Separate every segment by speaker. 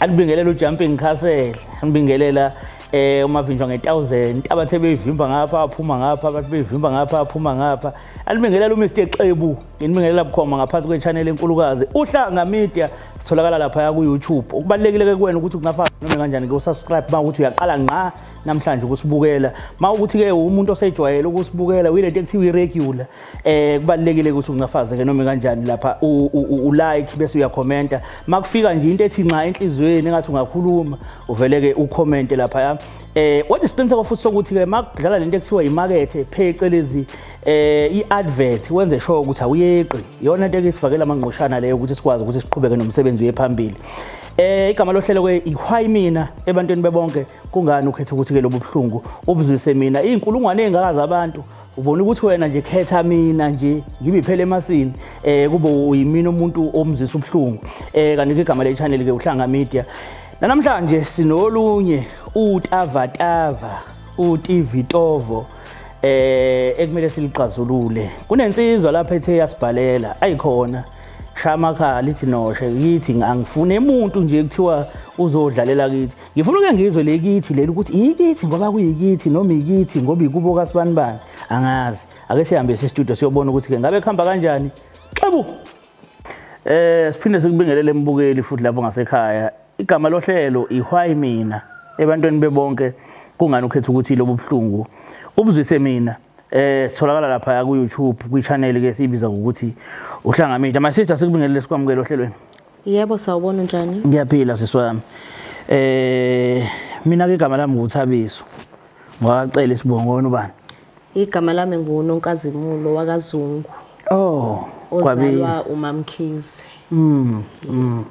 Speaker 1: Anibingelela uJumping Castle, anibingelela eh umavinjwa nge1000 abathe beyivimba ngapha aphuma ngapha abathe beyivimba ngapha aphuma ngapha anibingelela uMr Xebu nginibingelela bukhoma ngaphansi kwechannel enkulukazi uhlanga media sitholakala lapha ku YouTube ukubalekile ke kuwena ukuthi kungafa noma kanjani ke usubscribe ba ukuthi uyaqala ngqa namhlanje ukusibukela ma ukuthi ke umuntu osejwayele ukusibukela uyilento ekuthiwa iregular eh kubalekile ukuthi uncafaze ke noma kanjani lapha u like bese uyakhomenta makufika nje into ethi nxa enhlizweni engathi ungakhuluma uvele ke ucommente lapha ya eh what is pensa kofuthi sokuthi ke makudlala lento ekuthiwa imakethe phecelezi eh iadvert wenze sure ukuthi awuyeqi yona into ekisifakela amangqoshana leyo ukuthi sikwazi ukuthi siqhubeke nomsebenzi wephambili eh igama lohlelo ke ihwayi mina ebantwini bebonke kungani ukhetha ukuthi ke lobuhlungu ubuzwise mina izinkulungwane ezingakazi abantu ubona ukuthi wena nje khetha mina nje ngibiphele emasini eh kube uyimina umuntu omzisa ubuhlungu eh kanti ke igama le channel ke uhlanga media namhlanje sinolunye utavatava utivitovo eh ekumele silixazulule kunensizwa lapha ethe yasibhalela ayikhona shaya amakhala lithi noshe yithi angifune umuntu nje kuthiwa uzodlalela kithi ngifuna uke ngizwe le kithi leli ukuthi iyikithi ngoba kuyikithi noma ikithi ngoba ikubo kasibanibani angazi ake sihambe sistudio siyobona ukuthi ke ngabe kuhamba kanjani xebu eh siphinde sikubingelele embukeli futhi lapho ngasekhaya igama lohlelo ihwayi mina ebantwini bebonke kungani ukhetha ukuthi lobu buhlungu ubuzwise mina eh sitholakala lapha ku YouTube kwi channel ke sibiza ukuthi uhlangamile my sister sikubingelele sikwamukele ohlelweni Yebo sawubona
Speaker 2: unjani? Ngiyaphila sisi wami.
Speaker 1: Eh mina ke igama lami nguthabiso. Ngwacela isibongo wena ubani? Igama lami
Speaker 2: nguNonkazimulo wakaZungu. Oh, ozalwa uMamkhize. Mm. Mm.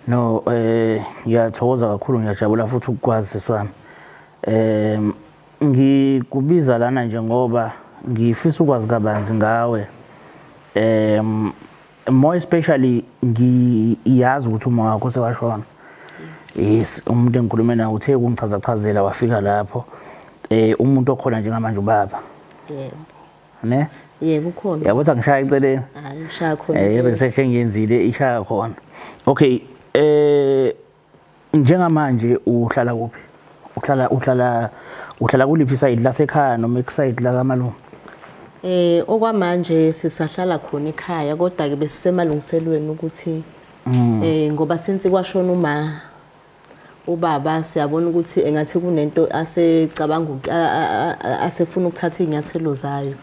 Speaker 1: No eh ngiyathokoza kakhulu ngiyajabula futhi ukukwazi sisi wami. Eh ngikubiza lana nje ngoba ngifisa ukwazi kabanzi ngawe. Eh more especially ngiyazi ukuthi uma wakho sewashona yes umuntu engikhulume naye uthe kungichaza chazela wafika lapho eh umuntu okhona njengamanje ubaba
Speaker 2: yebo ne
Speaker 1: yebo ukhona
Speaker 2: yabo ukuthi angishaya iceleni
Speaker 1: hayi ushaya khona
Speaker 2: eh research engiyenzile
Speaker 1: ishaya khona okay eh Njengamanje uhlala kuphi? Uhlala uhlala uhlala kuliphi side lasekhaya noma ekuside la kamalungu? Eh okwamanje
Speaker 2: sisahlala khona ekhaya kodwa ke besisemalungiselweni ukuthi mm. eh ngoba since kwashona uma ubaba siyabona ukuthi engathi kunento asecabanga asefuna ukuthatha izinyathelo zayo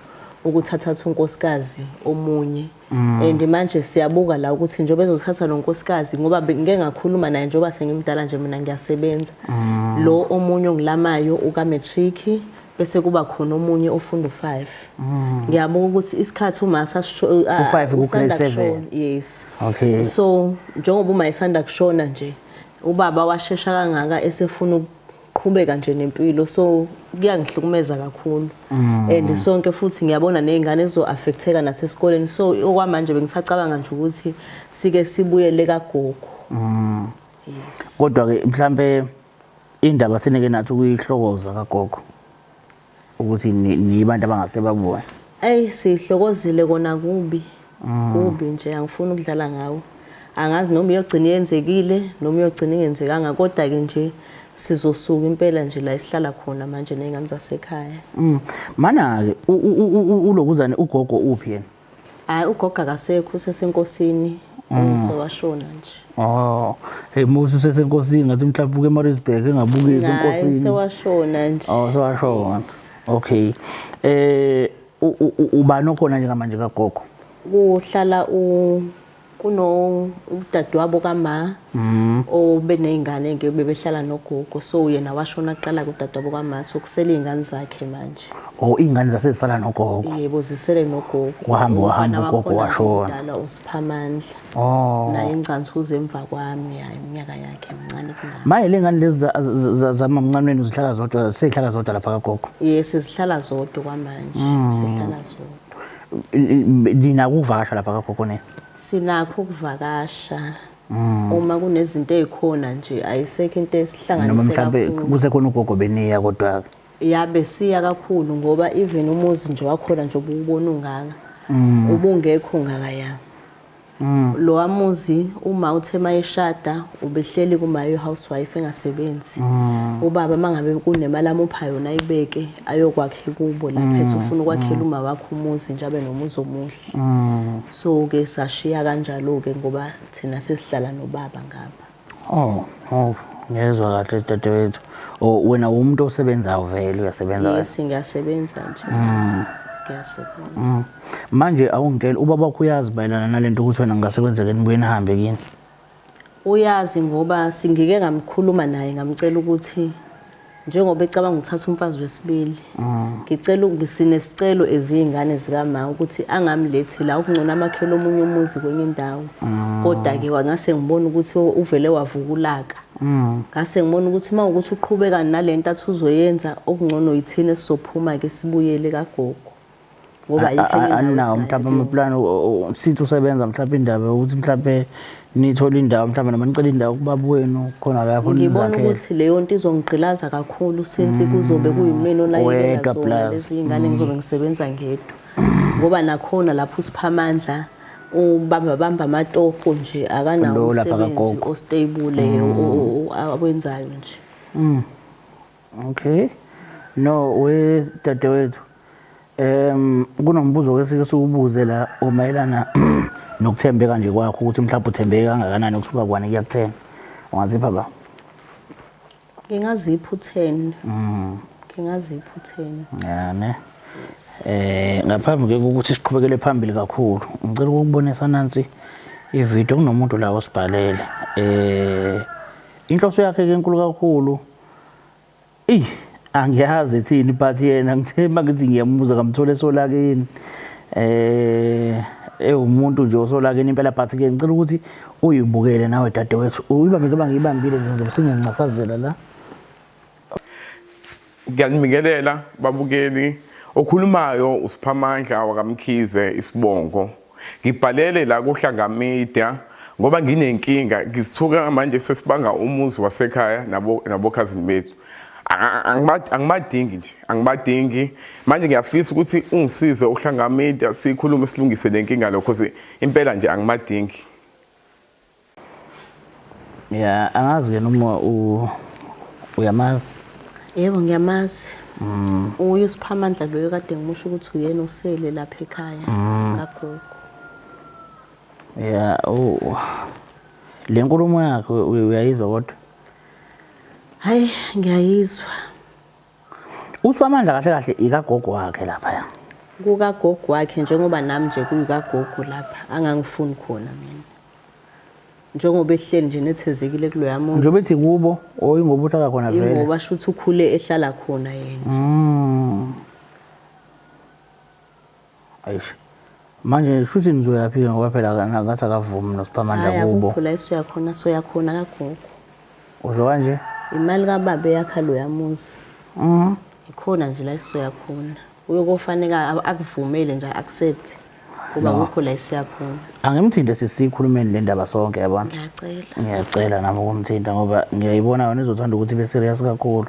Speaker 2: ukuthathatha unkosikazi omunye Mm. and manje siyabuka la ukuthi njengoba ezothatha lo nkosikazi ngoba ngike ngakhuluma naye njengoba sengimdala nje mina ngiyasebenza mm. lo omunye ongilamayo uka-matric bese kuba khona omunye ofunda u-five mm. ngiyabuka ukuthi isikhathi umasa usanda kushona yes
Speaker 1: okay
Speaker 2: so
Speaker 1: njengoba
Speaker 2: uma esanda kushona nje ubaba washesha kangaka esefuna qhubeka nje nempilo so kuyangihlukumeza kakhulu mm. and sonke futhi ngiyabona nezingane zizo affecteka nasesikoleni so okwamanje bengisacabanga nje ukuthi sike sibuyele kagogo mm. kodwa ke
Speaker 1: mhlambe indaba sinike nathi ukuyihlokoza kagogo ukuthi nibantu abangase babuye eyi sihlokozile
Speaker 2: kona kubi mm. kubi nje angifuni ukudlala ngawo angazi noma iyogcina yenzekile noma iyogcina ingenzekanga kodwa-ke nje sizosuka impela nje la esihlala khona manje ney'ngane zasekhaya mm. mana-ke
Speaker 1: ulokuzane ugogo uphi yena Hayi ugogo
Speaker 2: akasekho usesenkosini umse washona nje. Oh, hey
Speaker 1: Musa usesenkosini ngathi mhlawumbe uke eMaritzburg engabukeki Hayi enkosini. sewashona
Speaker 2: nje. Oh, sewashona.
Speaker 1: Okay. Eh u- u- u- ubani okhona njengamanje kagogo? Kuhlala
Speaker 2: u Kuno udadewabo kama obe nezingane ke bebehlala nogogo so yena washona kuqala kudadewabo kama so kusele izingane zakhe manje. Oh izingane zasezisala
Speaker 1: nogogo. Yebo zisele
Speaker 2: nogogo. Wahamba wahamba ugogo
Speaker 1: washona. Dala uSiphamandla.
Speaker 2: Oh. Naye ingcansuze emva kwami hayi iminyaka yakhe mncane kunami. Maye lengane lezi
Speaker 1: zamamncanweni uzihlala zodwa sezihlala zodwa lapha kagogo. Yes sezihlala
Speaker 2: zodwa kwamanje. Sezihlala zodwa. Nina
Speaker 1: ukuvakasha lapha kagogo nina? Sinakho
Speaker 2: ukuvakasha. Mm. Uma kunezinto ezikhona nje ayisekho into esihlanganise kakhulu. Noma mhlawumbe kuze
Speaker 1: khona ugogo beniya kodwa ya
Speaker 2: besiya kakhulu ngoba even
Speaker 1: umuzi
Speaker 2: nje wakhona nje ububona ungaka. Mm. Ubungekho ngaka ya. Lowa muzi uma uthe mayeshada ubehleli kuma u housewife engasebenzi. Ubaba mangabe kunemali amupha yona ayibeke ayokwakhe kubo lapha ethi ufuna ukwakhela uma wakhe umuzi nje abe nomuzi omuhle. So ke sashiya kanjalo ke ngoba thina sesihlala nobaba ngapha. Oh, oh, ngezwa
Speaker 1: kahle dadewethu. Oh, wena umuntu osebenzayo vele uyasebenza kahle. Yes, ngiyasebenza
Speaker 2: nje. Mm. Ngiyasebenza. Mm. Manje
Speaker 1: awungitshela ubaba wakho uyazi bayelana nalento ukuthi wena ngase kwenzeke nibuye nihambe kini.
Speaker 2: Uyazi ngoba singike ngamkhuluma naye ngamcela ukuthi njengoba ecabanga ukuthatha umfazi wesibili mm. ngicela nginesicelo eziyingane zikama ukuthi angamlethi la ukungcona amakhelo omunye umuzi kwenye indawo mm. kodwa ke wangase ngibona ukuthi uvele wavukulaka mm. ngase ngibona ukuthi uma ukuthi uqhubeka nalento athi uzoyenza okungcono yithina sizophuma ke sibuyele kagogo ngoba ayikho enye indawo aninawo
Speaker 1: mhlawumbe amaplani since usebenza mhlawumbe indaba yokuthi mhlawumbe nithola indawo mhlawumbe noma nicela indawo kubaba wenu khona lapho ngibona ukuthi leyo
Speaker 2: nto izongigqilaza kakhulu since mm. kuzobe kuyimina olayekela zona lezi iy'ngane mm. ngizobe ngisebenza ngedwa ngoba nakhona lapho usipha amandla ubamba bamba amatofo nje akanawo umsebenzi ostable mm. awenzayo nje
Speaker 1: Okay. No we dadewethu. Em kunombuzo ke sike siwubuze la omayelana nokuthembeka nje kwakho ukuthi mhlawumbe uthembeke kangakanani ukusuka kwani kuya ku10. Ungazipha ba? Ngingazipha
Speaker 2: u10. Mhm. Ngingazipha u10. Yeah ne.
Speaker 1: Eh ngaphambi ke ukuthi siqhubekele phambili kakhulu. Ngicela ukubonisa nansi ivideo kunomuntu la osibhalele. Eh inhloso yakhe ke enkulu kakhulu. Ey angiyazi ethini but yena ngithe mangithi ngiyamubuza ngamthola esolakeni eh ewumuntu nje osolakeni impela but ke ngicela ukuthi uyibukele nawe dadewethu uyibambe njengoba ngiyibambile nje ngizobe sengiyancafazela la
Speaker 3: ngiyanibingelela babukeli okhulumayo usiphamandla wakamkhize isibongo Ngibhalele la kuHlanga Media ngoba nginenkinga ngizithuka manje sesibanga umuzi wasekhaya nabo nabokhazini bethu angibadingi nje angibadingi manje ngiyafisa ukuthi ungisize uhlanga media sikhulume silungise lenkinga lo because impela nje angibadingi
Speaker 1: Yeah, angazi yena uma u uyamazi.
Speaker 2: Yebo ngiyamazi. Mm. Uye usiphamandla loyo kade ngimusho ukuthi uyena osele lapha ekhaya mm. kagogo.
Speaker 1: Yeah, oh. Le nkulumo yakhe uyayizwa kodwa?
Speaker 2: Hayi ngiyayizwa. uSiphamandla
Speaker 1: kahle kahle ikagogo wakhe laphaya kukagogo
Speaker 2: wakhe njengoba nami nje kuyikagogo lapha angangifuni khona mina njengoba ehleli nje nethezekile kuloya muzi njengoba ethi kubo
Speaker 1: or ingoba uhlala khona vele ingoba shuthi ukhule
Speaker 2: ehlala khona yena mm.
Speaker 1: Eish. Manje shuthi nizoyaphi ke ngoba phela kana- ngathi akavumi noSiphamandla Hhayi kubo. akukho la esizoya khona soya
Speaker 2: khona kagogo. Usho
Speaker 1: kanje? Imali kababa
Speaker 2: eyakha loya muzi. Mhm. Ikhona nje la esizoya khona. Uyokofaneka a- akuvumele nje accept. Ngoba No. akukho la esiya khona. Angimthinte
Speaker 1: sisikhulumeni le ndaba sonke yabona. Ngiyacela. Ngiyacela
Speaker 2: nami
Speaker 1: ukumthinta ngoba ngiyayibona yona izothanda ukuthi ibe serious kakhulu.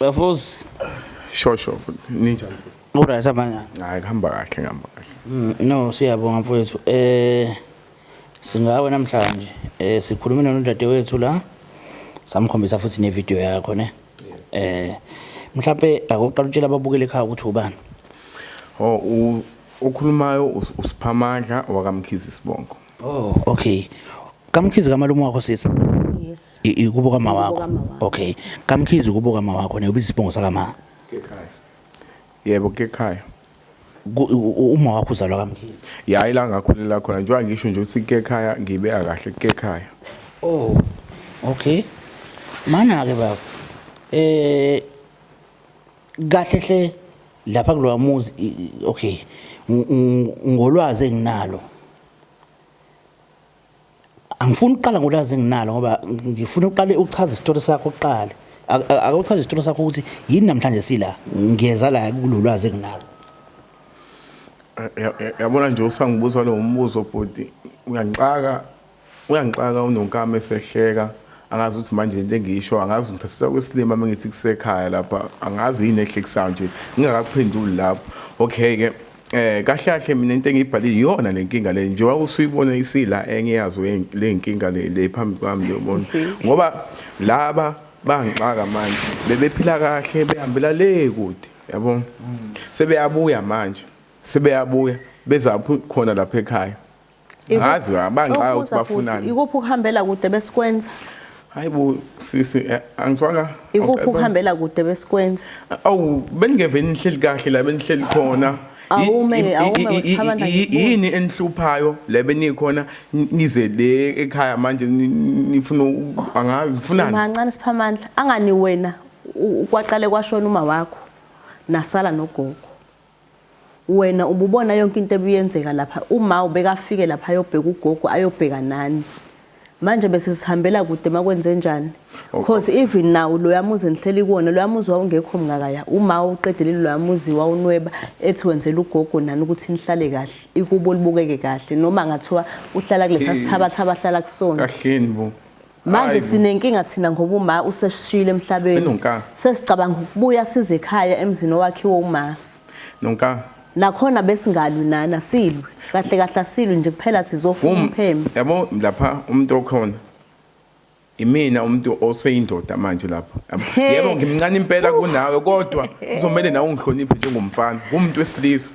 Speaker 1: Bafos. Sure
Speaker 3: sure. Ninjani? Uright
Speaker 1: abanyana. Hayi kuhamba kahle
Speaker 3: ngihamba kahle. Mm, no siyabonga
Speaker 1: mfowethu. Eh singawe namhlanje. Eh sikhulumile nodadewethu la. Samkhombisa futhi ne video yakho ne. Eh mhlawumbe akuqala utshela ababukeli ekhaya ukuthi ubani. Oh
Speaker 3: ukhulumayo usiphamandla wakamkhizi sibongo. Oh, okay.
Speaker 1: Kamkhizi kamalume wakho sisi? Yes.
Speaker 2: Ikubo kama wakho.
Speaker 1: Okay. Kamkhizi kubo kama wakho ne ubiza isibongo sakama. Kekhaya.
Speaker 3: Yebo kekhaya.
Speaker 1: Uma wakho uzalwa kamkhizi. Ya ila ngakhulela
Speaker 3: khona njengoba ngisho nje ukuthi kekhaya ngibe akahle kekhaya. Oh.
Speaker 1: Okay. Mana ke bafo. Eh kahle hle lapha kulowa muzi okay ngolwazi enginalo angifuni ukuqala ngolwazi enginalo ngoba ngifuna uqale uchaze isitori sakho uqale akawuchaze isitori sakho ukuthi yini namhlanje sila ngiyeza la kulolwazi enginalo
Speaker 3: yabona nje usangibuza lo mbuzo bhuti uyangixaka Uyangixaka uNonkama esehleka angazi ukuthi manje lento engiyisho angazi ngithathisa kwesilima mengithi kusekhaya lapha angazi yini ehlekisayo nje ngingakakuphenduli lapho okay ke eh kahle kahle mina into engiyibhalile iyona lenkinga le nje wawusuyibona isila engiyazi lenkinga le le phambi kwami yobona ngoba laba bangixaka manje bebephila kahle behambela le kude yabo sebeyabuya manje sebeyabuya bezaphu khona lapha ekhaya ngazi bangixaka ukuthi bafunani ikuphi ukuhambela kude
Speaker 2: besikwenza hayi bo
Speaker 3: sisi eh, angiswanga ikuphi ukuhambela
Speaker 2: kude besikwenza awu
Speaker 3: beningeve nihleli kahle la benihleli khona awume awume wesithabanda yini enihluphayo la benikhona nize le ekhaya manje nifuna angazi nifunani mancane siphamandla
Speaker 2: angani wena kwaqale kwashona uma wakho nasala nogogo Wena ububona yonke into ebiyenzeka lapha uma ubekafike lapha ayobheka ugogo ayobheka nani manje bese sihambela kude makwenzenjani because oh, oh. even now loya muzi engihleli kuwona loya muzi wawungekho mngakaya uma uqedelile loya muzi wawunweba ethi wenzela ugogo nani ukuthi nihlale kahle ikubo libukeke kahle noma ngathiwa uhlala kulesa sithabatha abahlala kusona kahleni bo
Speaker 3: Manje sinenkinga
Speaker 2: thina ngoba uma useshile emhlabeni. Sesicabanga ukubuya size ekhaya emzini owakhiwe uma. Nonka.
Speaker 3: Nakhona
Speaker 2: besingalwi nana silwe. Kahle kahle asilwe nje kuphela sizofuna um, umpheme. Yabo lapha
Speaker 3: umuntu okhona. Imina umuntu oseyindoda manje lapho. Yebo ngimncane impela kunawe kodwa uzomele nawe ungihloniphe njengomfana. Umuntu wesilisa.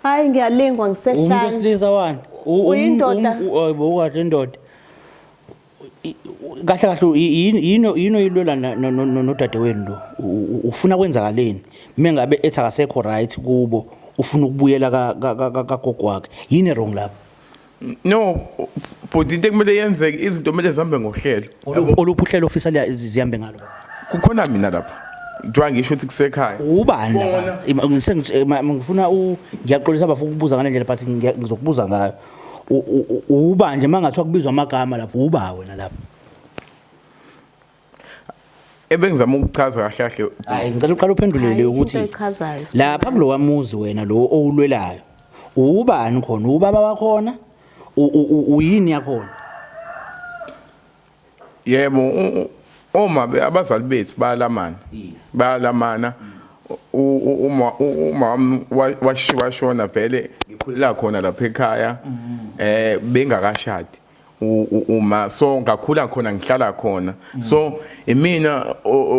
Speaker 3: Hayi
Speaker 2: ngiyalingwa ngisehlala. Umuntu wesilisa wani?
Speaker 1: Uyindoda.
Speaker 2: Uyibo ukahle
Speaker 1: indoda. kahle kahle yini yini oyilwela nodadewenu lo ufuna kwenzakaleni mengabe ethi akasekho right kubo ufuna ukubuyela kagogo wakhe yini wrong lapho no
Speaker 3: bhuti into ekumele yenzeke izinto kumele zihambe ngohlelo oluphi uhlelo
Speaker 1: ofisa zihambe ngalo kukhona mina
Speaker 3: lapha kuthiwa ngisho ukuthi kusekhaya ubani
Speaker 1: ngifuna ngiyaxolisa bafuna ukubuza ngale ndlela but ngizokubuza ngayo uba nje mangathiwa kubizwa amagama lapho uba wena lapho
Speaker 3: ebengizama ukuchaza kahle kahle hayi ngicela uqala
Speaker 1: uphendulele ukuthi lapha kulowa muzi wena lo owulwelayo ubani khona ubaba wakhona uyini yakhona
Speaker 3: Yebo uma abazali bethu bayalamana. Bayalamana. uma uma washiwa shona vele ngikhulela khona lapha ekhaya eh bengakashadi uma so ngakhula khona ngihlala khona so imina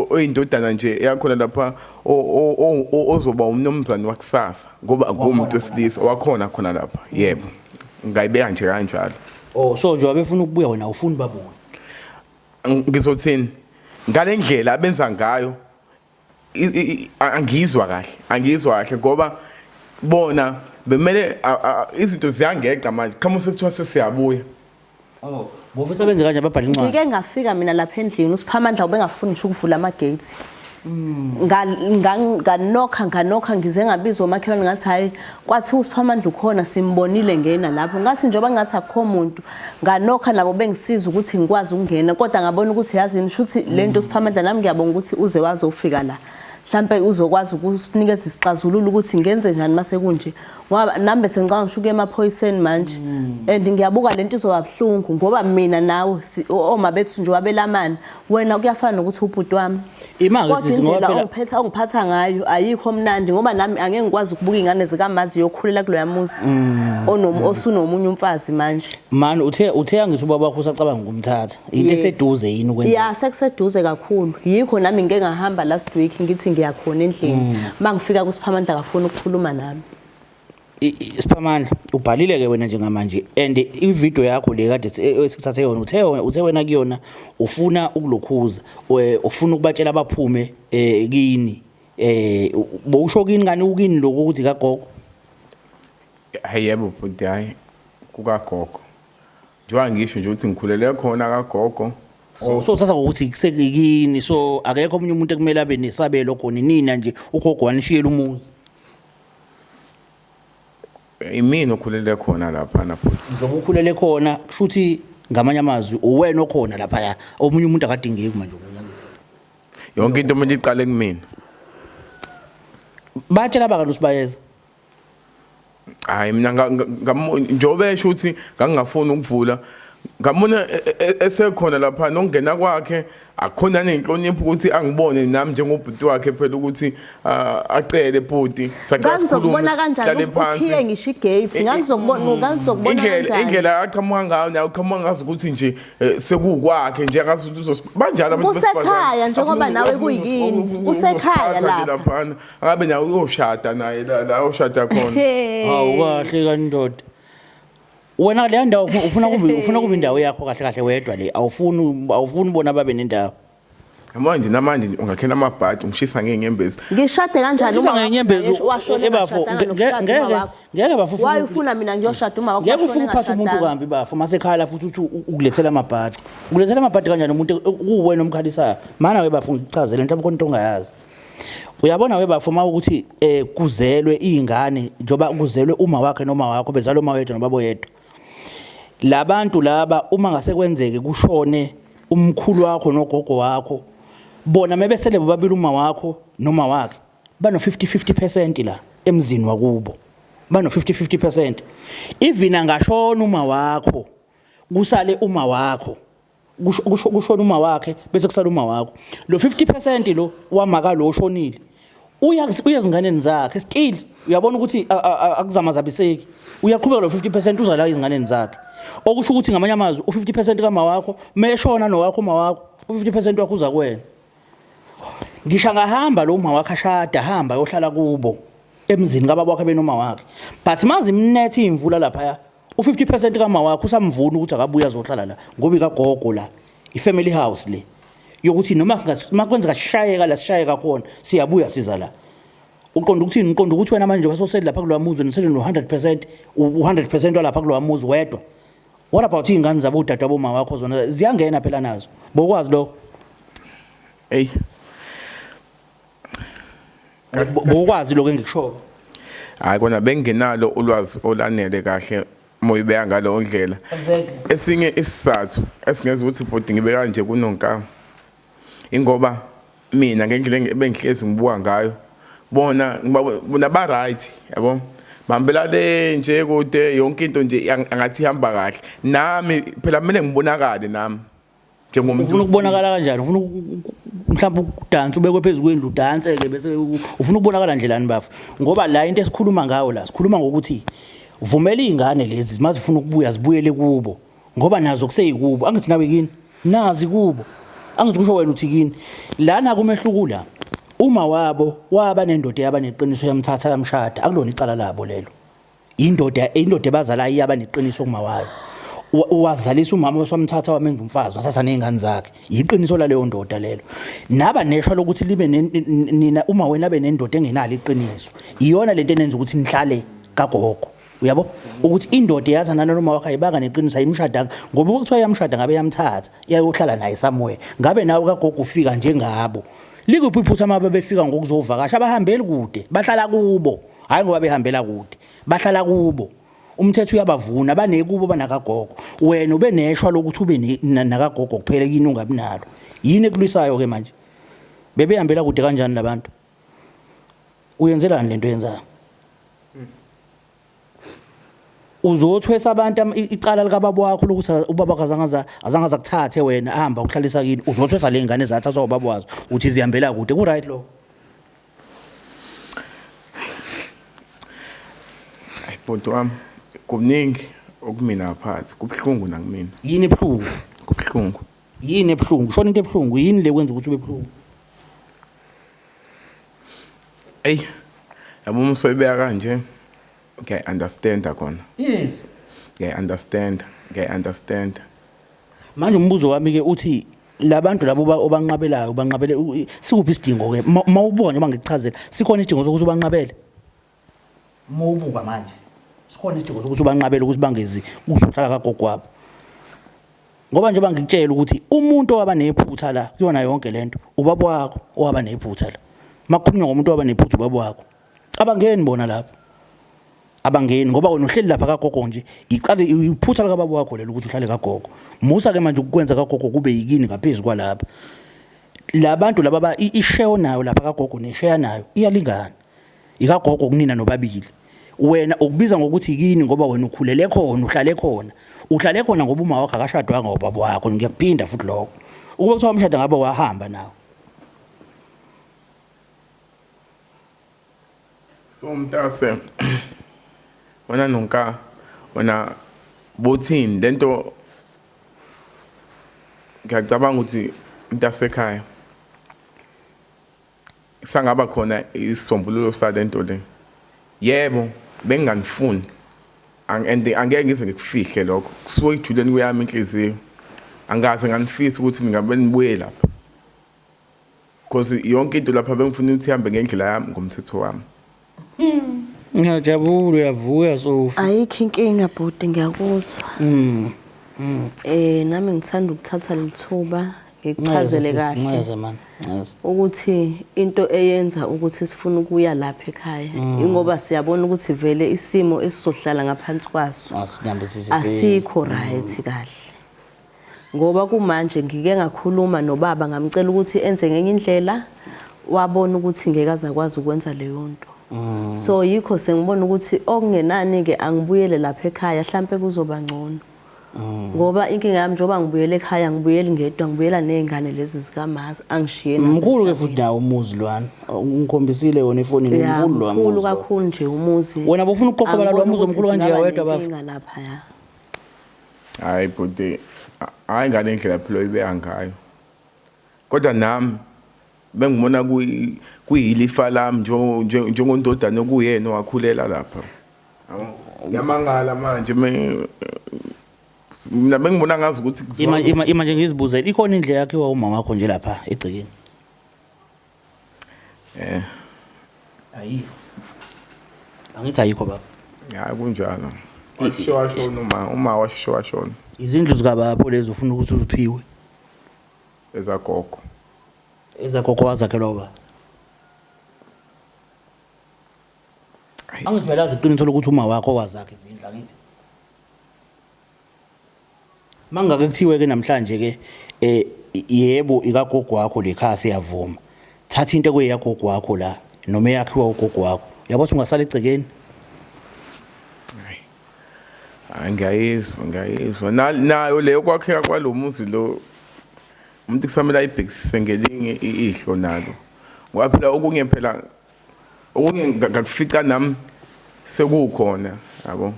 Speaker 3: oyindodana nje yakhona lapha ozoba umnomzane wakusasa ngoba kumuntu wesilisa wakhona khona lapha yebo ngayibeka nje kanjalo Oh so nje wabefuna
Speaker 1: ukubuya wena ufuni babuye.
Speaker 3: Ngizothini? Ngalendlela abenza ngayo angizwa kahle, angizwa kahle ngoba bona bemele izinto ziyangeqa manje qhamuka sekuthiwa sesiyabuya
Speaker 1: oh bofisa benze kanje ababhala incwadi ngike ngafika mina lapha
Speaker 2: endlini usiphamandla ubengafuni ngisho ukuvula ama gate nganokha nganokha ngize ngabizwa omakhelwane ngathi hhayi kwathiwa usiphamandla ukhona simbonile ngena lapho ngathi njengoba ngathi akukho muntu nganokha nabo bengisiza ukuthi ngikwazi ukungena kodwa ngabona ukuthi yazi yini shuthi le nto usiphamandla nami ngiyabonga ukuthi uze wazofika la mhlampe uzokwazi ukusinikeza isixazululo ukuthi ngenze njani uma sekunje ngoba nami bese ngicabanga ngisho ukuya emaphoyiseni manje hmm. and ngiyabuka le nto izoba buhlungu ngoba mina nawe oma bethu nje wabelamani wena kuyafana nokuthi ubhuti wami kodwa indlela
Speaker 1: ongiphetha ongiphatha ngayo
Speaker 2: ayikho mnandi ngoba nami angeke ngikwazi ukubuka ingane zikamazi yokhulela kuloya muzi mm. onomu osunomunye umfazi manje man uthe uthe
Speaker 1: angithi ubaba wakho usacabanga ukumthatha into eseduze yini ukwenza ya sekuseduze
Speaker 2: kakhulu yikho nami ngeke ngahamba last week ngithi ngiyakhona endlini mm. mangifika kusiphamandla kafuna ukukhuluma nami
Speaker 1: Siphamandla ubhalile ke wena njengamanje and ivideo yakho le kade eh, esikuthathe yona uthe uthe wena kuyona ufuna ukulokhuza eh, ufuna ukubatshela abaphume eh, kini eh bowusho kini kani ukini lokho ukuthi kagogo
Speaker 3: hayi yebo bhuti hayi kukagogo njengoba ngisho nje ukuthi ngikhulele khona kagogo so oh, uthatha
Speaker 1: ngokuthi kusekikini so akekho omunye umuntu ekumele abe nesabelo khona nina nje ugogo wanishiyela umuzi Imina okhulele
Speaker 3: khona
Speaker 1: laphana futhi.
Speaker 3: Njengoba ukhulele
Speaker 1: khona kusho
Speaker 3: ukuthi
Speaker 1: ngamanye amazwi uwena okhona laphaya omunye umuntu akadingeki manje omunye
Speaker 3: Yonke into kumele iqale kumina.
Speaker 1: batshela abakani usibayeza
Speaker 3: Hayi mina nga- nga- ngamu- njengoba esho ukuthi ngangingafuni ukuvula ngamona e- e- e- esekhona lapha nokungena kwakhe akhona nenhlonipho ukuthi angibone nami njengobhuti wakhe phela ukuthi ah, acele bhuti ngangizokubona
Speaker 2: kanjani ukhiye ngisho igate ngangizokubona mm. ngangizokubona indlela indlela aqhamuka
Speaker 3: ngayo nayo uqhamuka ngazi ukuthi nje eh, sekukwakhe nje ngazi ukuthi uzos banjalo abantu kusekhaya njengoba
Speaker 2: nawe kuyini kusekhaya la lapha
Speaker 3: angabe nawe uyoshada naye la la ushada khona hawu kahle
Speaker 1: kandoda wena leya ndawo ufu- ufuna kube ufuna kube indawo yakho kahle kahle wedwa le awufuni awufuni bona babe nendawo manje
Speaker 3: namanje nje ungakhela amabhadi ungishisa ngey'nyembezi ngishade kanjani Ushisa
Speaker 2: uma ngenyembezi, wakho
Speaker 1: washona eh, bafo, engashadanga nge- nokushada ngeke- uma wakho? ngeke bafo ufuna- Why ufuna mina ngiyoshada
Speaker 2: uma wakho ngeke washona ufike uphathe umuntu engashadanga? kambi
Speaker 1: bafo masekhala futhi uthi u- ukulethela amabhadi ukulethela amabhadi kanjani umuntu e, kuwuwena omkhalisayo mana we bafo ngichazele mhlawumbe khona into ongayazi Uyabona we bafo uma ukuthi eh kuzelwe izingane njoba kuzelwe uma wakhe noma wakho bezalwa uma wethu nobabo yedwa. Labantu laba uma ngase kwenzeke kushone umkhulu wakho nogogo wakho bona mebesele bobabili uma wakho noma wakhe bano 50 50% la emzini wakubo. Bano 50 50%. Even angashona uma wakho kusale uma wakho. kushona uma wakhe bese kusala uma wakho lo 50% lo wamaka lo oshonile uya uyezinganeni zakhe still uyabona ukuthi akuzama zabiseki uyaqhubeka lo 50% uza la izinganeni zakhe okusho ukuthi ngamanye amazwi u 50% kama wakho meshona nowakho uma wakho u 50% wakho uza kuwena ngisha ngahamba lo uma wakhe ashada hamba yohlala kubo emzini kababa wakhe benoma wakhe but mazi imnethe imvula lapha U50 percent kama wakho usamvuna ukuthi akabuya azohlala la ngoba ikagogo la ifamily house le yokuthi noma makwenzeka sishayeka la sishayeka khona siyabuya siza la uqonda ukuthini uqonda ukuthi wena manje wasoseli lapha kulowa muzi nisele no 100% u100% walapha kulowa muzi wedwa what about ingane zabo udade wabo mama wakho zona ziyangena phela nazo bokwazi lokho
Speaker 3: hey
Speaker 1: bokwazi lokho engikushoyo hayi kona
Speaker 3: bengingenalo ulwazi olanele kahle moyibeka ngalo ndlela esinye isizathu esingenza ukuthi bhuti ngibe kanje kunonkama ingoba mina ngendlela ebengihlezi ngibuka ngayo bona bona ba right yabo bambela le nje kude yonke into nje angathi ihamba kahle nami phela kumele ngibonakale nami njengomuntu ufuna ukubonakala kanjani
Speaker 1: ufuna mhlawumbe ukudansa ubekwe phezu kwendlu udanse ke bese ufuna ukubonakala ndlelani bafo ngoba la into esikhuluma ngayo la sikhuluma ngokuthi vumela izingane lezi mazifuna ukubuya zibuyele kubo ngoba nazo kuseyikubo angithi nawe kini nazi kubo angithi kusho wena uthi kini lana kumehluku la uma wabo waba nendoda yaba neqiniso yamthatha yamshada akulona icala labo lelo indoda indoda ebazala iyaba neqiniso kuma wayo wazalisa umama wasamthatha wamenza umfazi wasatha nezingane zakhe yiqiniso laleyo ndoda lelo naba neshwa lokuthi libe nina uma wena abe nendoda engenalo iqiniso iyona lento enenza ukuthi nihlale kagogo uyabo ukuthi indoda eyazana noma wakhe ayibanga neqiniso ayimshadanga ngoba ukuthiwa yamshada ngabe yamthatha iyayohlala naye somewhere ngabe nawe kagogo ufika njengabo likuphi iphutha uma befika ngokuzovakasha abahambeli kude bahlala kubo hayi ngoba behambela kude bahlala kubo umthetho uyabavuna banekubo banakagogo wena ube neshwa lokuthi ube nakagogo kuphela yini ungabi nalo yini ekulwisayo ke manje bebehambela kude kanjani labantu uyenzelani lento yenzayo uzothwesa abantu icala likababa wakho lokuthi ubaba akazangaza azangaza kuthathe wena ahamba ukuhlalisa kini uzothwesa lengane zathathwa ubaba wazo uthi zihambela kude ku right lokho
Speaker 3: Ay bhuti wami kuningi okumina phansi kubuhlungu nakumina. Yini ebuhlungu?
Speaker 1: Kubuhlungu.
Speaker 3: Yini ebuhlungu?
Speaker 1: Shona into ebuhlungu yini le kwenza ukuthi ube buhlungu?
Speaker 3: Ey yabo uma usoyibeka kanje ngiyayi understanda khona. Yes.
Speaker 1: Ngiyayi understanda, ngiyayi
Speaker 3: understanda. Manje
Speaker 1: umbuzo wami ke uthi labantu labo obanqabelayo banqabele sikuphi isidingo ke mawubona uma ngikuchazela sikhona isidingo sokuthi ubanqabele mawubuka manje sikhona isidingo sokuthi ubanqabele ukuthi bangezi kuzohlala kagogo wabo ngoba njengoba ngikutshela ukuthi umuntu owaba nephutha la kuyona yonke lento ubaba wakho owaba nephutha la makukhulunywa ngomuntu owaba nephutha ubaba wakho Abangeni bona lapho. Abangeni ngoba wena uhleli lapha kagogo nje. Iqale iphutha lika baba wakho lelo ukuthi uhlale kagogo. Musa ke manje ukukwenza kagogo kube yikini ngaphezulu kwalapha. Labantu laba ba isheyo nayo lapha kagogo nesheya nayo iyalingana. Ikagogo kunina nobabili. Wena ukubiza ngokuthi yikini ngoba wena ukhulele khona, uhlale khona. Uhlale khona ngoba uma wakho akashadwanga ubaba wakho ngiyakuphinda futhi lokho. Ukuba kuthiwa umshado ngabe wahamba nawo.
Speaker 3: So mntase wena nonka wena bothini lento ngiyacabanga ukuthi mntasekhaya sangaba khona isisombululo salento le yebo benginganifuni and angeke ngize ngikufihle lokho kusuke ejuleni kuyami inhliziyo angikaze nganifisa ukuthi ningabe nibuye lapha Cause yonke into lapha bengifuna ukuthi ihambe ngendlela yami ngomthetho wami. Ngiyajabula
Speaker 1: uyavuya sofa. Ayikho inkinga
Speaker 2: bhuti ngiyakuzwa. Mm. Mm. Eh nami ngithanda ukuthatha lithuba ngikuchazele kahle. Nxeze man. Nxeze. Ukuthi into eyenza ukuthi sifuna ukuya lapha ekhaya mm. ingoba siyabona ukuthi vele isimo esizohlala ngaphansi kwaso. Asikho right kahle. Ngoba kumanje ngike ngakhuluma nobaba ngamcela ukuthi enze ngenye indlela wabona ukuthi ngeke azakwazi ukwenza leyo nto. Mm. So yikho sengibona ukuthi okungenani ke angibuyele lapha ekhaya mhlambe kuzoba ngcono. Mm. Ngoba inkinga yami njoba ngibuyele ekhaya ngibuyele ngedwa ngibuyela nezingane lezi zikamazi angishiye nazo. Mkhulu ke futhi nawo
Speaker 1: umuzi lwana. Ungikhombisile wona ifoni ngimkhulu lwa muzi. Mkhulu kakhulu nje
Speaker 2: umuzi. Wena bofuna ukuqoqa bala
Speaker 1: lwa muzi omkhulu kanje yawedwa bafo. Inga lapha ya.
Speaker 3: Hayi bhuti, hayi ngale ndlela phela oyibeya ngayo. Kodwa nami bengibona kuyilifa lami njengondodana okuyena owakhulela lapha. Yamangala manje mina bengibona ngazi ukuthi kuthiwa ima ima ima nje ngizibuzele
Speaker 1: ikhona indle yakhiwa umama wakho nje lapha egcekeni Eh. Ayikho. Angithi ayikho baba. Hayi kunjalo.
Speaker 3: Washo washo uma uma washo washo. Izindlu zika baba
Speaker 1: lezo ufuna ukuthi uziphiwe. Ezagogo. Ezagogo wazakhelwa baba. Angivelazi iqiniso lokuthi uma wakho wazakhe izindlu angithi. Mangake kuthiwe ke namhlanje ke eh yebo ikagogo wakho lekhaya siyavuma. Thatha into ekweyagogo wakho la noma eyakhiwa ugogo wakho. Yabo ukuthi ungasala egcekeni.
Speaker 3: Hayi ngiyayizwa ngiyayizwa nayo leyo kwakheka kwalomuzi lo umuntu kusamele ayibhekisise ngelinye ihlo nalo ngoba phela okunye phela okunye ngakufica nami sekukhona yabo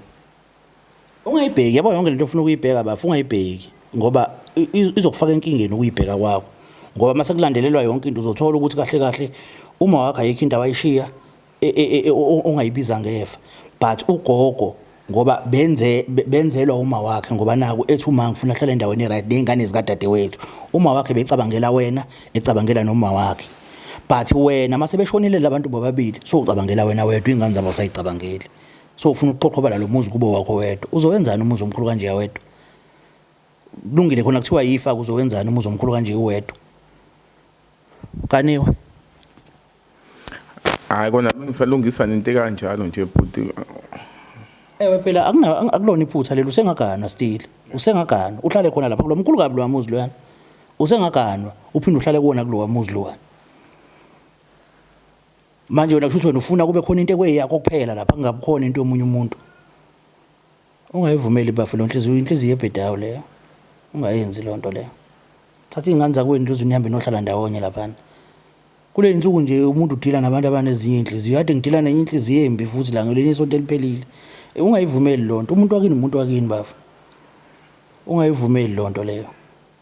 Speaker 1: ungayibheki yabo yonke lento ofuna ukuyibheka bafu ungayibheki ngoba izokufaka enkingeni ukuyibheka kwakho ngoba uma sekulandelelwa yonke into uzothola ukuthi kahle kahle uma wakho ayikho into awayishiya e, e, e, ongayibiza ngefa but ugogo ngoba benze benzelwa uma wakhe ngoba naku ethi uma ngifuna hlala endaweni eright nezingane zikadadewethu uma wakhe becabangela wena ecabangela noma wakhe but wena mase beshonile labantu bobabili so ucabangela wena wedwa ingane zabo sayicabangeli so ufuna ukuqoqhobala lo muzi kube wakho wedwa uzowenzani umuzi omkhulu kanje wedwa kulungile khona kuthiwa yifa kuzowenzani umuzi omkhulu kanje uwedwa kaniwe
Speaker 3: hayi kona bengisalungisa nento kanjalo nje bhuti
Speaker 1: ewe phela akulona iphutha leli usengaganwa still usengaganwa uhlale khona lapha kulo mkhulu kabi lo wamuzi loyana usengaganwa uphinde uhlale kuwona kulowa muzi lowana Manje wena kushuthi wena ufuna kube khona into ekweyakho kuphela lapha kungabukhona into yomunye umuntu. Ungayivumeli bafo lo nhliziyo inhliziyo ebhedayo leyo. Ungayenzi lo nto leyo. Thatha iy'ngane zakwenu lezi nihambe nohlala ndawonye laphana. Kule insuku nje umuntu udila nabantu abanezinye inhliziyo. Kade ngidila nenye inhliziyo embi futhi la ngelinye isonto eliphelile. E, ungayivumeli lo nto. Umuntu wakini umuntu wakini bafo. Ungayivumeli lo nto leyo.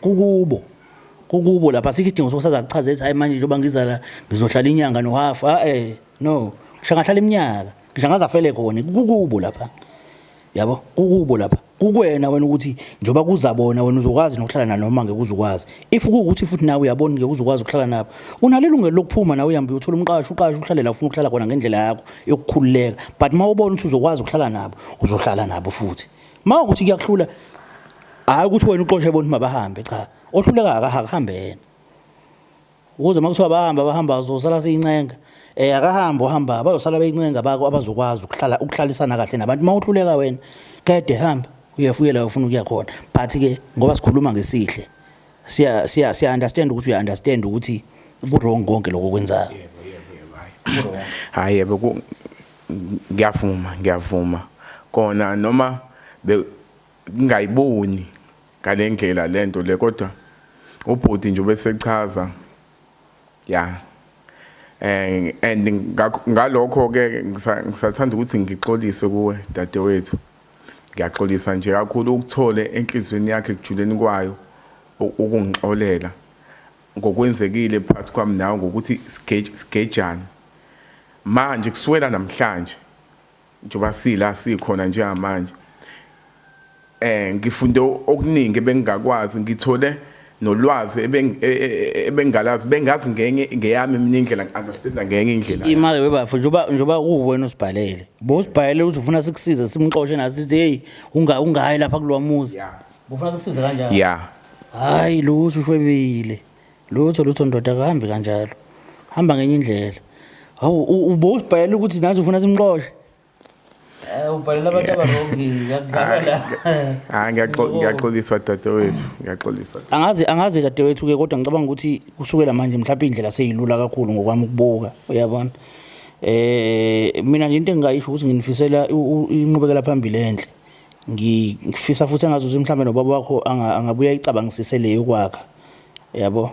Speaker 1: kukubo kukubo lapha sikho isidingo sokusaza kuchaza ethi hayi manje njengoba ngiza la ngizohlala inyanga nohafu a ah, eh no ngishangahlala iminyaka ngishangaza fele khona kukubo lapha yabo kukubo lapha kukwena
Speaker 4: wena ukuthi njoba kuzabona wena uzokwazi nokuhlala nanoma ngeke uzukwazi if kuwukuthi futhi nawe uyabona ngeke uzokwazi ukuhlala nabo unalelungelo lokuphuma nawe uhambe uyothola umqasho uqashe uhlale la ufuna ukuhlala khona ngendlela yakho yokukhululeka but uma ubona ukuthi uzokwazi ukuhlala nabo uzohlala nabo futhi Uma ukuthi kuyakuhlula hayi ukuthi wena uxoshe bonke mabahambe cha. Ohluleka akahambe yena. Ukuze makuthiwa bahamba bahamba uzosala seyincenga. Eh akahamba uhamba bayosala beyincenga bako abazokwazi ukuhlala ukuhlalisana kahle nabantu. Uma uhluleka wena kade hamba uyafuyela ufuna ukuya khona. But ke ngoba sikhuluma ngesihle siya siya siya understand ukuthi uya understand ukuthi ku wrong konke lokho kwenzayo.
Speaker 3: Hayi yebo Ngiyavuma, ngiyavuma kona noma ngingayiboni ngalendlela lento le kodwa ubhuti nje ubesechaza ya eh and ngalokho ke ngisathanda ukuthi ngixolise kuwe dadewethu ngiyaxolisa nje kakhulu ukuthole enhlizweni yakhe kujuleni kwayo ukungixolela Ngokwenzekile phakathi kwami nawe ngokuthi sigejane manje kuswela namhlanje njengoba sila sikhona njengamanje eh ngifunde okuningi ebengingakwazi ngithole nolwazi e, e, ebengingalazi bengazi ngenye ngeyami mina indlela ngi-understanda ngenye indlela imali webafo njengoba
Speaker 4: njengoba uwena usibhalele bosibhalele ukuthi ufuna sikusize simxoshe nathi sithi hey ungayi lapha kulowa muzi yeah. Ngifuna sikusize kanjani? Yeah. Hayi lutho ushwebile. Lutho lutho ndoda akahambi kanjalo. Hamba ngenye indlela. Hawu ubosibhalela ukuthi nathi ufuna simqoshe. Eh ubhalela abantu abarongi ngiyakudlala la. Ah ngiyaxoliswa
Speaker 3: dadewethu, ngiyaxoliswa. Angazi angazi dadewethu
Speaker 4: ke kodwa ngicabanga ukuthi kusukela manje mhlawumbe indlela seyilula kakhulu ngokwami ukubuka, uyabona. Eh mina nje into engingayisho ukuthi nginifisela inqubekela phambili enhle. ngifisa futhi engazi ukuthi mhlawumbe nobaba wakho angabuye ayicabangisise le yokwakha yabo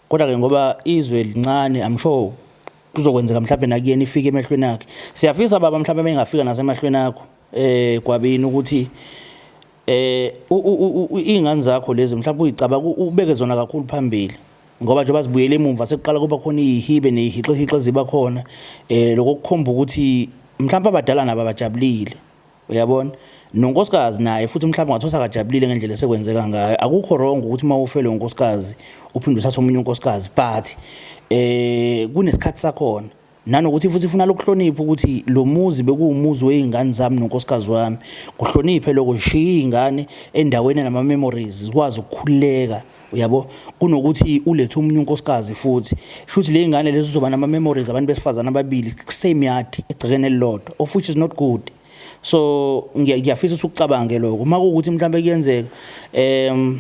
Speaker 4: kodwa-ke ngoba izwe lincane i'm sure kuzokwenzeka mhlawumbe nakuyena ifike emehlweni akhe siyafisa baba mhlawumbe uma ingafika nasemahlweni akho um gwabini ukuthi um iy'ngane zakho lezi mhlawumbe uyicabanga ubeke zona kakhulu phambili ngoba njengoba zibuyele emumva sekuqala kuba khona iyihibe neyihixihixe ziba khona um eh, lokokukhomba ukuthi mhlawumbe abadala nabo abajabulile Uyabona? Nonkosikazi naye futhi mhlawumbe ungathola akajabulile ngendlela esekwenzeka ngayo. Akukho wrong ukuthi uma ufelwe unkosikazi uphinde uthathe omunye unkosikazi but eh kunesikhathi sakhona. Nanokuthi futhi ufuna lokuhlonipha ukuthi lo muzi bekuwumuzi wezingane zami nonkosikazi wami. Kuhloniphe lokho sishiye izingane endaweni enama memories zikwazi ukukhululeka. uyabo kunokuthi ulethe omunye unkosikazi futhi shuthi le ngane lezi uzoba nama memories abantu besifazana ababili same yard egcekeni elilodwa of which is not good so ngiyafisa ukuthi ucabange lokho uma kuwukuthi mhlawumbe kuyenzeka um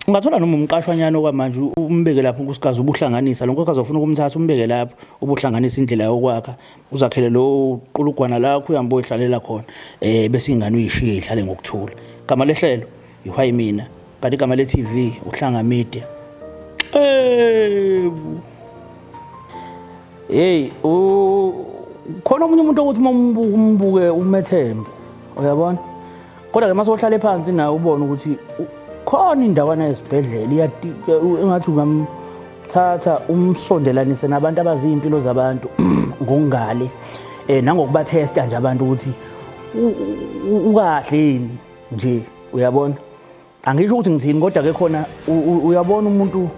Speaker 4: ungathola noma umqashwanyana okwamanje umbeke lapho unkosikazi ubuhlanganisa lo nkosikazi ofuna ukumthatha umbeke lapho ubuhlanganisa indlela yokwakha uzakhele lo qulugwana lakho uyambo ihlalela khona um bese ingane uyishiye ihlale ngokuthula gama lehlelo Yihwayi mina kanti igama le TV uhlanga media. Eh. Hey, u khona omunye umuntu ukuthi uma umbuke umbuke umethembe. Uyabona? Kodwa ke mase ohlale phansi naye ubone ukuthi u- khona indawana esibhedlela iyati engathi ungamthatha umsondelanise nabantu abaziyimpilo zabantu ngokungale eh nangokuba testa nje abantu ukuthi u- u- ukahle yini nje uyabona angisho ukuthi ngithini kodwa ke khona uyabona umuntu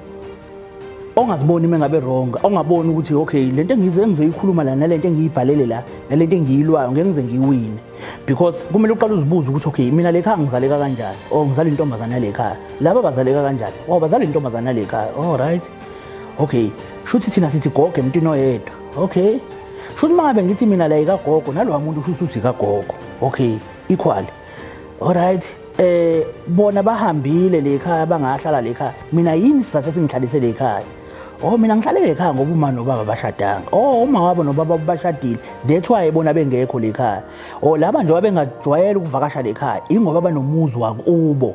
Speaker 4: ongaziboni uma ngabe wrong ongaboni ukuthi okay le nto engize engizoyikhuluma la nale nto engiyibhalele la nale nto engiyilwayo ngeke ngize ngiyiwine because kumele uqale uzibuze ukuthi okay mina le khaya ngizaleka kanjani or ngizala intombazane yale khaya laba bazaleka kanjani oh bazala intombazane yale khaya all oh, right okay shuthi thina sithi gogo emntwini oyedwa okay shuthi uma ngabe ngithi mina la ikagogo nalowa muntu shuthi uthi kagogo okay equal alright eh bona bahambile le khaya bangahlala le khaya mina yini sizathe singihlalise le khaya oh mina ngihlale le khaya ngoba uma nobaba bashadanga oh uma wabo nobaba bashadile that's why bona bengekho le khaya oh laba nje wabengajwayela ukuvakasha le khaya ingoba banomuzi wakubo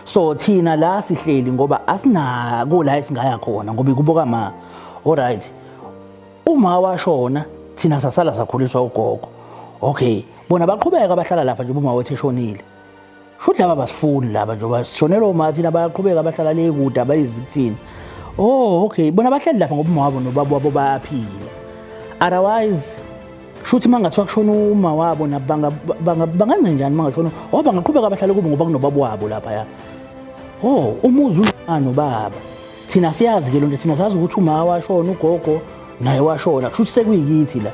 Speaker 4: so thina la sihleli ngoba asinako la esingaya khona ngoba ikuboka ma alright uma washona thina sasala sakhuliswa ugogo okay bona baqhubeka bahlala lapha njengoba umawethu eshonile futhi laba basifuni laba njengoba sishonelwa uma thina bayaqhubeka bahlala le kude abayizi kuthina oh okay bona bahleli lapha ngoba uma wabo nobaba wabo bayaphila otherwise shuthi mangathiwa kushona uma wabo nabanga bangenze njani mangashona oh bangaqhubeka bahlale kubo ngoba kunobaba wabo lapha ya oh umuzi unani nobaba thina siyazi ke lonto thina sazi ukuthi uma washona ugogo naye washona kusho ukuthi sekuyikithi la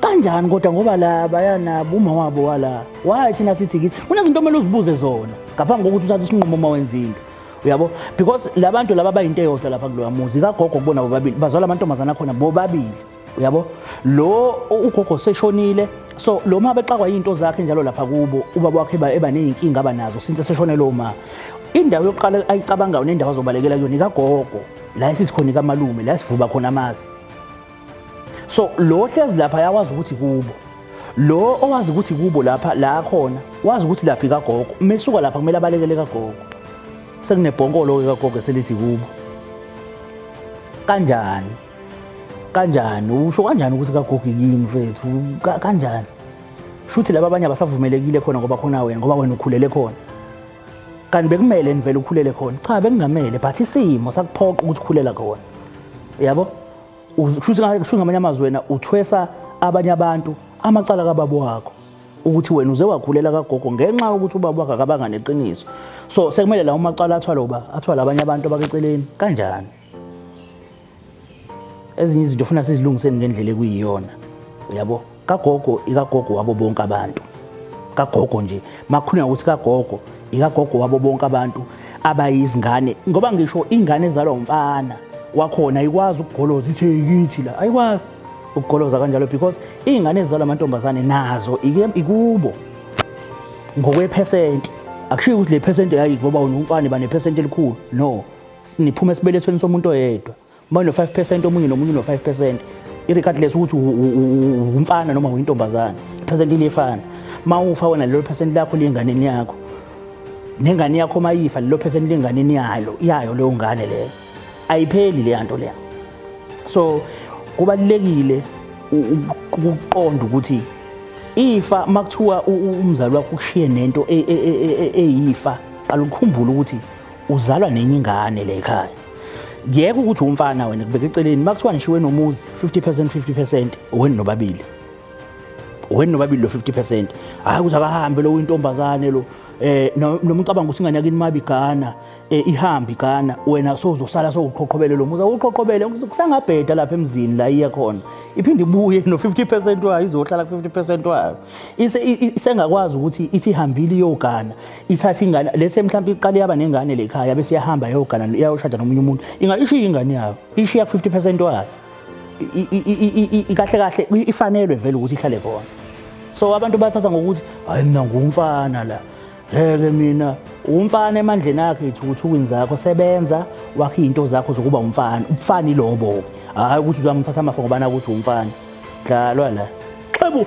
Speaker 4: kanjani kodwa ngoba la bayanabo uma wabo wala why thina sithi kithi kunezinto omele uzibuze zona ngaphambi kokuthi uthathe isinqumo uma wenza into uyabo because labantu laba bayinto eyodwa lapha kuloya muzi kagogo kubona bobabili bazwala amantombazana akhona bobabili uyabo lo ugogo seshonile so lo ma bexakwa into zakhe njalo lapha kubo ubaba wakhe eba nezinkinga abanazo since seshone lo ma indawo yokuqala ayicabangayo nendawo azobalekela kuyona ikagogo la esisikhona ikamalume la sivuba khona amasi so lo hlezi lapha yawazi ukuthi kubo lo owazi ukuthi kubo lapha la khona wazi ukuthi lapha ikagogo mesuka lapha kumele abalekele kagogo sekunebhonkolo ke kagogo selithi kubo kanjani kanjani usho kanjani ukuthi kagogi kini mfethu kanjani shuthi laba abanye abasavumelekile khona ngoba khona wena ngoba wena ukhulele khona kanti bekumele nivele ukhulele khona cha bekungamele but isimo sakuphoqa ukuthi ukhulela khona yabo shuthi shuthi ngamanye amazwi wena uthwesa abanye abantu amacala kababa wakho ukuthi wena uze wakhulela kagogo ngenxa yokuthi ubaba wakhe akabanga neqiniso so sekumele la umacala athwale uba athwale abanye abantu abakeceleni kanjani ezinye izinto funa sizilungiseni ngendlela ekuyiyona uyabo kagogo ikagogo wabo bonke abantu kagogo nje makhuluma ukuthi kagogo ikagogo wabo bonke abantu abayizingane ngoba ngisho ingane ezalwa umfana wakhona ayikwazi ukugoloza ithi yikithi la ayikwazi ukugoloza kanjalo because izingane ezizalwa amantombazane nazo ikubo ngokwephesenti akushiyo ukuthi le phesenti yayi ngoba unomfana banephesenti elikhulu no Niphuma esibelethweni somuntu oyedwa. Uma no 5% omunye nomunye no 5%. Irregardless ukuthi umfana noma uyintombazane, iphesenti liyefana. Mawufa wena lelo phesenti lakho liyenganeni yakho. Nengane yakho mayifa lelo phesenti lenganeni yalo, iyayo leyo ngane leyo. Ayipheli le nto leya. So kubalekile ukuqonda ukuthi ifa makuthiwa umzali wakho ushiye nento eyifa qala ukukhumbula ukuthi uzalwa nenye ingane le ekhaya yeke ukuthi umfana wena kubeka eceleni makuthiwa nishiwe nomuzi 50% 50% weni nobabili weni nobabili lo 50% hayi ukuthi akahambe lo uyintombazane lo eh noma ucabanga ukuthi ingane yakini mabi Ghana eh, ihambi Ghana wena sozosala sowuqhoqhobele lo muzi awuqhoqhobele kusangabheda lapha emzini la iya khona iphinde ibuye no 50% wayo izohlala 50% wayo isengakwazi ukuthi ithi hambile iyogana ithatha ingane lese mhlawumbe iqale yaba nengane le khaya bese yahamba yogana yayoshada nomunye umuntu ingayishiya ingane yayo ishiya 50% wayo ikahle kahle ifanelwe vele ukuthi ihlale khona so abantu bathatha ngokuthi hayi mina ngumfana la ngeke mina umfana emandleni akhe ithukuthukwini zakho sebenza wakhe into zakho zokuba umfana ubufana ilobo hayi ukuthi uzamthatha amafa ngoba nakuthi umfana dlalwa la xebu